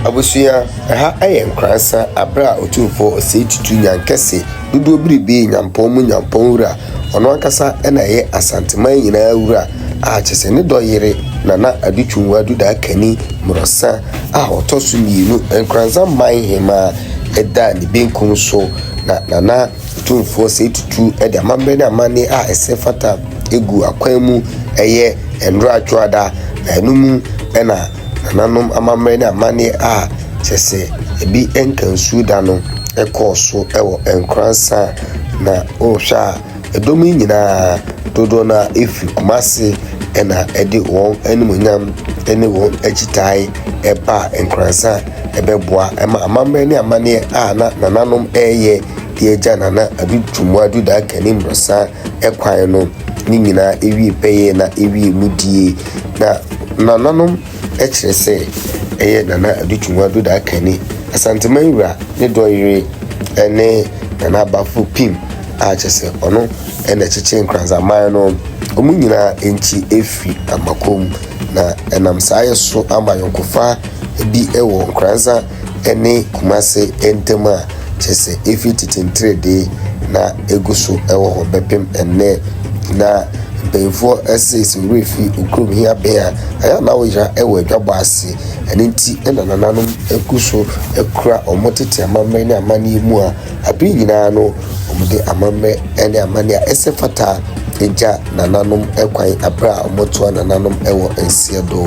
Abusua, ɛha yɛ Nkoransa aberɛ a Otumfoɔ Osei Tutu Nyan Kɛse, Dodoɔ Biribee Nyampɔn mu Nyampɔn Wura, ɔno ankasa na ɛyɛ Asanteman nyinaa Wura, a kyerɛ sɛ ne dɔ yere, Nana Adu Twumwa Dudaa Kani Mmorɔsa a ɔtɔ so mmienu, Nkoransa man Hemaa, da ne benkum so, na Nana Otumfoɔ Osei Tutu de amammerɛ ne amanneɛ a ɛsɛ fata gu akwan mu, ɛyɛ Nnora Dwoada, na ɛno mu na. nananom amammerɛ ne amanneɛ a kyerɛ sɛ ebi nka nsuo da no kɔɔ so wɔ Nkoranza, na wohwɛ a, ɛdɔm yi nyinaa dodoɔ no ara firi Kumase na ɛde wɔn animuonyam ne wɔn akyitaae baa Nkoranza bɛboa ma amammerɛ ne amanneɛ a na nananom reyɛ de agya Nana Adu Twumua Adu Daakani mmorɔsa kwan no ne nyinaa wie pɛyɛ na ɛwiee mu die. Na nananom kyerɛ sɛ ɛyɛ Nana Adu Twumwa Duda Akanni, Asanteman wura, ne dɔ yere ne Nana Abafo Pim a kyerɛ sɛ ɔno na ɛkyekyee Nkranzaman no. Wɔn nyinaa nti afi Amakɔ mu, na ɛnam saa yɛ so ama ayɔnkofa bi wɔ Nkranza ne Kumase ntam a kyerɛ sɛ efi tete ntiredee na egu so wɔ hɔ bɛpem ɛnnɛ. Na mpanyinfoɔ ɛse sɛ worefi okurom he abɛn a, ɛyɛ a na woyera wɔ adwabɔ ase. Ɛno nti na nananom gu so kura wɔn tete amammerɛ ne amanneɛ mu a. Bere nyinaa no, wɔde amammerɛ ne amanne a ɛsɛ fata gya nananom kwan bere a wɔtoa nananom wɔ nseɛ do.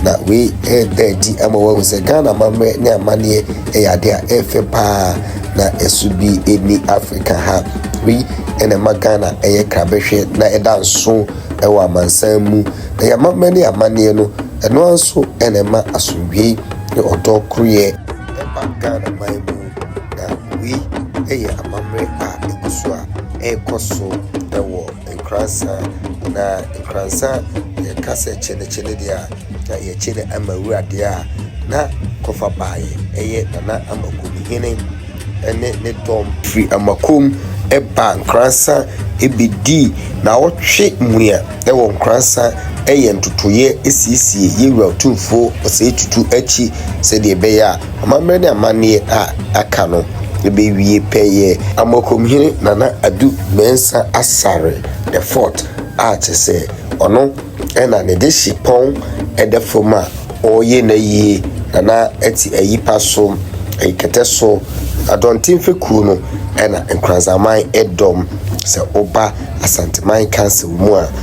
Na wei reda adi ama wɔahu sɛ Ghana amammerɛ ne amanneɛ yɛ ade a ɛyɛ fɛ paa, na ɛso bi nni Afrika ha. Wei na ɛma Ghana yɛ krabɛhwɛ na ɛda nso wɔ amansan mu. Na yɛn amammerɛ ne yɛn amanneɛ no, ɛno ara nso na ɛma asomdwoeɛ ne ɔdɔ koroyɛ ba Ghanaman mu. Na wei yɛ amammerɛ a ɛgu so a ɛrekɔ so wɔ Nkoranza. Na Nkoranza, yɛka sɛ kye no kye no deɛ a, na yɛkye no ama wura deɛ a, na kɔfa baeɛ ɛyɛ Nana Amakomhene ne ne dɔm. Firi Amakom baa Nkoranza bɛdii naawɔtwe mua wɔ Nkoranza yɛ ntotoeɛ siesie yɛn wura Otumfoɔ Osei Tutu akyi sɛdeɛ ɛbɛyɛ a, Amammerɛ ne amanneɛ a aka no bɛwie pɛ yɛ Amoakomhene Nana Adu Mensah Asare the Fourth a kyerɛ sɛ ɔno na ne dehye pɔn da fam a ɔreyɛ n'ayie na na ɛte Ayipa so, Ayikɛtɛ so, Adɔnten fekuo no na Nkoranzaman dɔm sɛ woba Asanteman Council mu a.